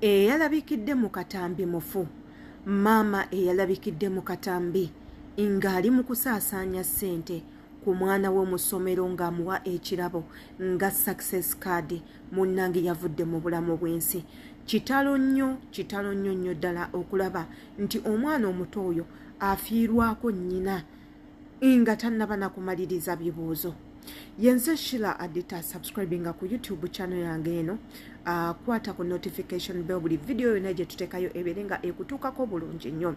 eyalabikidde mu katambi mufu maama eyalabikidde mu katambi ng'ali mu kusaasaanya ssente ku mwana we mu ssomero ng'amuwa ekirabo nga success card munnange yavudde mu bulamu bw'ensi kitalo nnyo kitalo nnyo nnyo ddala okulaba nti omwana omuto oyo afiirwako nnyina nga tannaba nakumaliriza bibuuzo yenze shila adita subscribinga ku youtube channel yange eno akwata ah, ku notification bell buli vidiyo yona gyetutekayo ebeere nga ekutuukako bulungi nnyo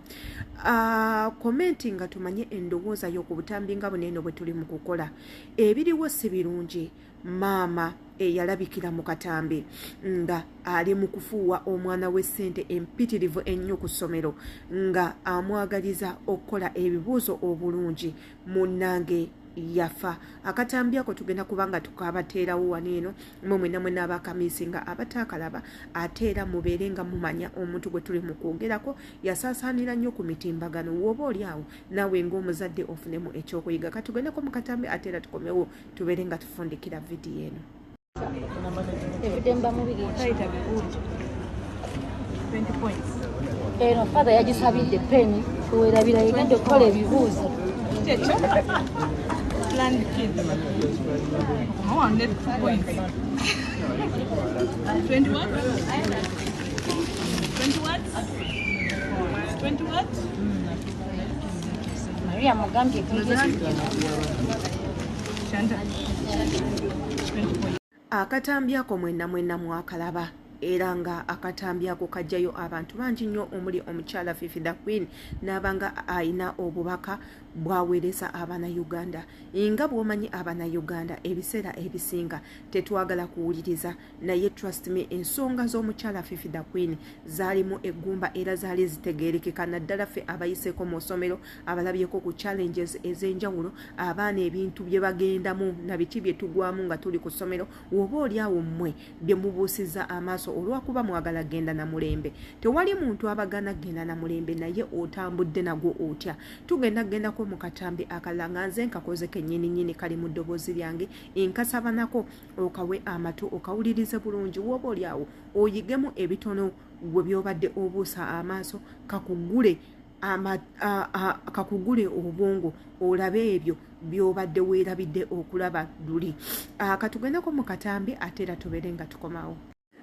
ah, komenti nga tumanye endowooza yo ku butambi nga buneeno bwe tuli mu kukola ebiriwo si birungi maama eyalabikira mu katambi nga ali mu kufuuwa omwana w'essente empitirivu ennyo ku ssomero nga amwagaliza okukola ebibuuzo obulungi munnange yafa akatambi ako tugenda kuba nga tukabateerawo wano eno mwe mwena mwena abakamisi nga abataakalaba ate era mubeere nga mumanya omuntu gwe tuli mu kwogerako yasaasaanira nnyo ku mitimbagano wooba oli awo naawe ng'omuzadde ofunemu ekyokuyiga katugende ko mu katambi ate era tukomewo tubeere nga tufundikira vidiyo eno eno father yagisabidde peni werabira yegenda okukola ebibuuzo Twenty what? Twenty what? Maria Mugambi Akatambi ako mwenna mwenna mwakalaba era nga akatambi ako kajjayo abantu bangi nnyo omuli omukyala fifi the queen n'abanga alina obubaka bwaweereza abana uganda nga bwomanyi abana uganda ebiseera ebisinga tetwagala kuwuliriza naye trust me ensonga z'omukyala fifi the queen zaalimu eggumba era zaali zitegeerekeka naddala ffe abayiseeko mu ssomero abalabyeko ku challenges ez'enjawulo abaana ebintu bye bagendamu na biki bye tugwamu nga tuli ku ssomero woba oli awo mmwe bye mubuusiza amaaso olwakuba mwagala genda na mulembe tewali muntu abagana genda na mulembe naye otambudde nagwo otya tugenda gendako mu katambi akalala nga nze nkakoze kennyini nnyini kali mu ddoboozi lyange nkasabanako okawe amatu okawulirize bulungi woba oli awo oyigemu ebitono gwe byobadde obuusa amaaso kakugule kakugule obwongo olabe ebyo byobadde weerabidde okulaba luli katugendeko mu katambi ate era tubeere nga tukomawo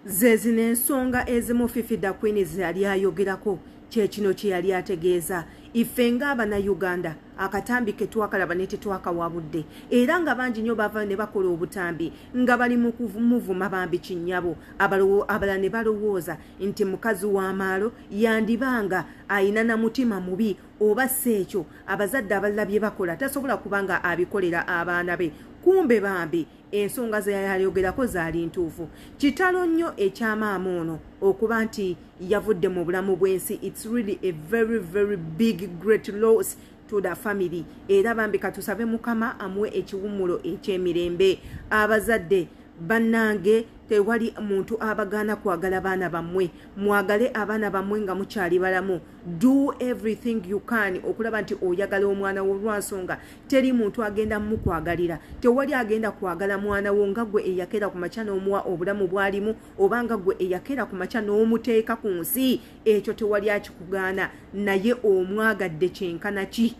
Zezino ensonga ezimu Fifi da Queen ze yali ayogerako kyekino kye yali ategeeza ife ngaabana uganda akatambi ketwakalaba netetwakawa budde era nga bangi nyo bavayo ne bakola obutambi nga bali mumuvuma bambi kinyabo abala ne balowooza nti mukazi w'amaalo yandibanga ayina na mutima mubi oba si ekyo abazadde abalala bye bakola tasobola kubanga abikolera abaana be kumbe bambi ensonga ze yayogerako zaali ntuufu kitalo nnyo ekyamaama ono okuba nti yavudde mu bulamu bw'ensi its really a very very big great loss to the family era bambi katusabe mukama amuwe ekiwummulo eky'emirembe abazadde bannange tewali muntu abagaana kwagala baana bammwe mwagale abaana bammwe nga mukyali balamu do everything you can okulaba nti oyagala omwana wo lwansonga teri muntu agenda mukwagalira tewali agenda kwagala mwana wo nga gwe eyakera ku makya n'omuwa obulamu bwalimu oba nga gwe eyakera ku makya n'omuteeka ku nsi ekyo tewali akikugaana naye omwagadde kyenkana ki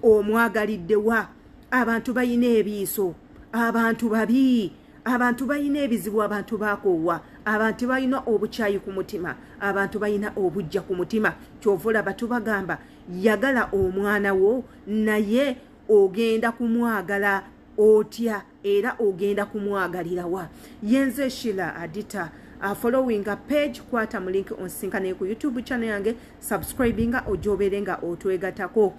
omwagaliddewa abantu balina ebiiso abantu babii abantu balina ebizibu abantu bakoowa abantu balina obukyayi ku mutima abantu balina obujja ku mutima kyova olaba tubagamba yagala omwana wo naye ogenda kumwagala otya era ogenda kumwagalirawa yenze shila adita uh, following a page kwata mu link onsinka naye ku youtube channel yange subscribinga ojobeere nga otwegatako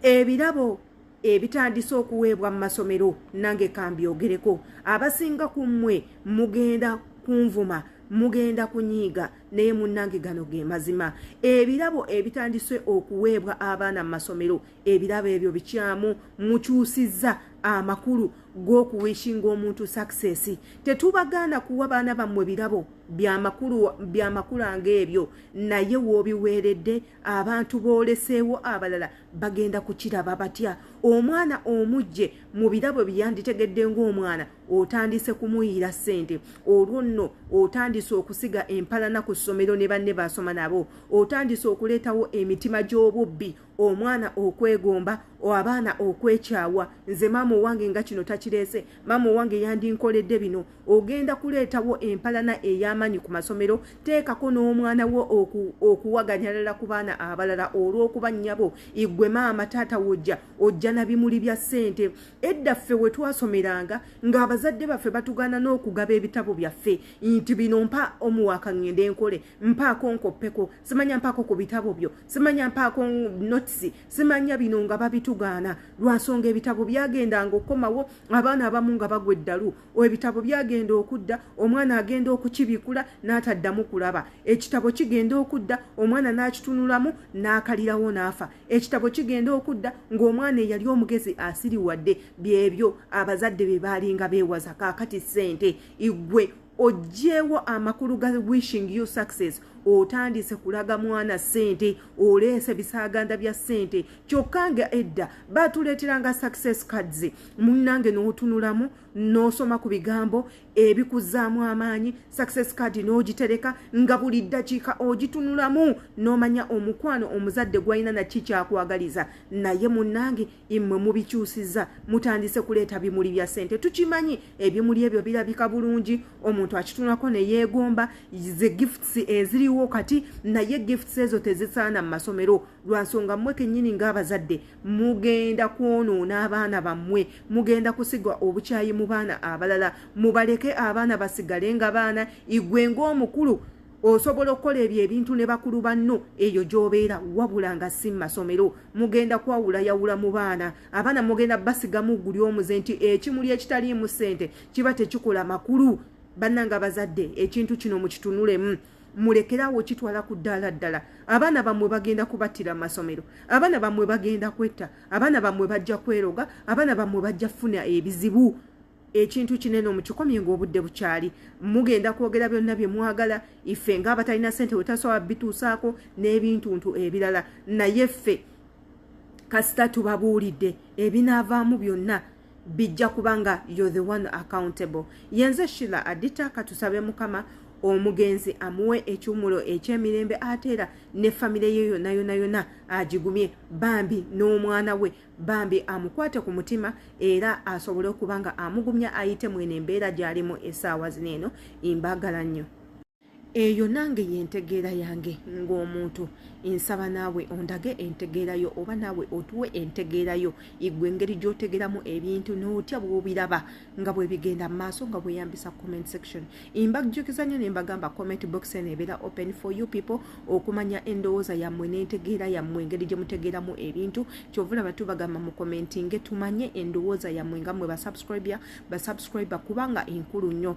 ebirabo ebitandise okuweebwa mu masomero nange kambyogereko abasinga ku mmwe mugenda kunvuma mugenda kunyiiga naye munnange gano ge mazima ebirabo ebitandise okuweebwa abaana mu masomero ebirabo ebyo bikyamu mukyusizza amakulu g'okuwishinga omuntu success tetubagaana kuwa baana bammwe birabo byamakulanga ebyo naye woobiweeredde abantu booleseewo abalala bagenda kukiraba batya omwana omujje mu birabo byeyanditegedde ng'omwana otandise kumuyiira ssente olwo nno otandise okusiga empalana ku ssomero ne banne basoma nabo otandise okuleetawo emitima gy'obubbi omwana okwegomba abaana okwekyawa nze maama owange nga kino takireese maama owange yandinkoledde bino ogenda kuleetawo empalana ey'amaanyi ku masomero teekako n'omwana wo okuwaganyalala ku baana abalala olw'okuba nnyabo igwe maama taata wojja ojja na bimuli bya ssente edda ffe we twasomeranga ng'abazadde baffe batugaana n'okugaba ebitabo byaffe nti bino mpa omuwaaka ŋŋende nkole mpaako nkoppeko simanya mpaako ku bitabo byo simanya mpaako notisi simanya bino nga babitugaana lwa nsonga ebitabo byagendanga okukomawo abaana abamu nga bagwa eddalu ebitabo byagenda okudda omwana agenda okukibikula n'ataddamu kulaba ekitabo kigenda okudda omwana n'akitunulamu n'akalirawo n'afa ekitabo kigenda okudda ng'omwana eyali omugezi asiriwadde byebyo abazadde be baalinga beewaza kaakati ssente igwe ojjeewo amakulu ga wishing you success otandise kulaga mwana sente oleese bisaaganda bya sente kyokka nga edda batuleeteranga success cards munnange n'otunulamu n'osoma ku bigambo ebikuzzaamu amaanyi success card n'ogitereka nga buli ddakiika ogitunulamu n'omanya omukwano omuzadde gwalina nakki kyakwagaliza naye munnange immwe mubikyusizza mutandise kuleeta bimuli bya ssente tukimanyi ebimuli ebyo birabika bulungi omuntu akitunulako ne yeegomba ze gifts eziriwo kati naye gifts ezo tezisaana mu masomero lwa nsonga mmwe kennyini ng'abazadde mugenda kwonoona abaana bammwe mugenda kusiga obukyayi mu baana abalala mubaleke abaana basigale nga baana igwe ng'omukulu osobola okukola ebyo ebintu ne bakulu banno eyo gy'obeera wabula nga si mu masomero mugenda kwawulayawula mu baana abaana mugenda basigamu guli omuze nti ekimuli ekitaliimu ssente kiba tekikola makulu bannanga abazadde ekintu kino mukitunulemu mulekerawo kitwala ku ddaala ddala abaana bamwe bagenda kubattira masomero abaana bamwe bagenda kwetta abaana bamwe bajja kweroga abaana bamwe bajja funa ebizibu ekintu kinene omukikomye ngaobudde bukyali mugenda kwogera byonna bye mwagala ife ngaabatalina sente wetasobola bituusaako n'ebintuntu ebirala naye ffe kasita tubabuulidde ebinaavaamu byonna bijja kubanga you're the one accountable yenze shila adita katusabe mukama omugenzi amuwe ekiwumulo ekyemirembe ate era ne famire ye yona yona yona agigumye bambi n'omwana we bambi amukwate ku mutima era asobole okuba nga amugumya ayite mwene embeera gy'alimu esaawa zino eno imbagala nnyo eyo nange yentegeera yange ng'omuntu nsaba naawe ondage entegeerayo oba naawe otuwe entegeerayo igwe engeri gy'otegeramu ebintu n'otya bw'obiraba nga bwe bigenda mu maaso nga bweyambisa comment section mbajjukiza nnyo ne mbagamba comment box eno ebeera open for you people okumanya endowooza yammwe n'entegeera yammwe engeri gye mutegeeramu ebintu kyova olaba tubagamba mu commentinge tumanye endowooza yammwe nga mmwe basubscribia basubscriber kubanga enkulu nnyo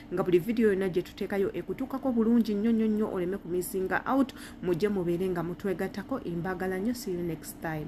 nga buli vidiyo yonna gye tuteekayo ekutuukako bulungi nnyo nnyo nnyo oleme ku misinga out mujje mubeere nga mutwegattako embagala nnyo see you next time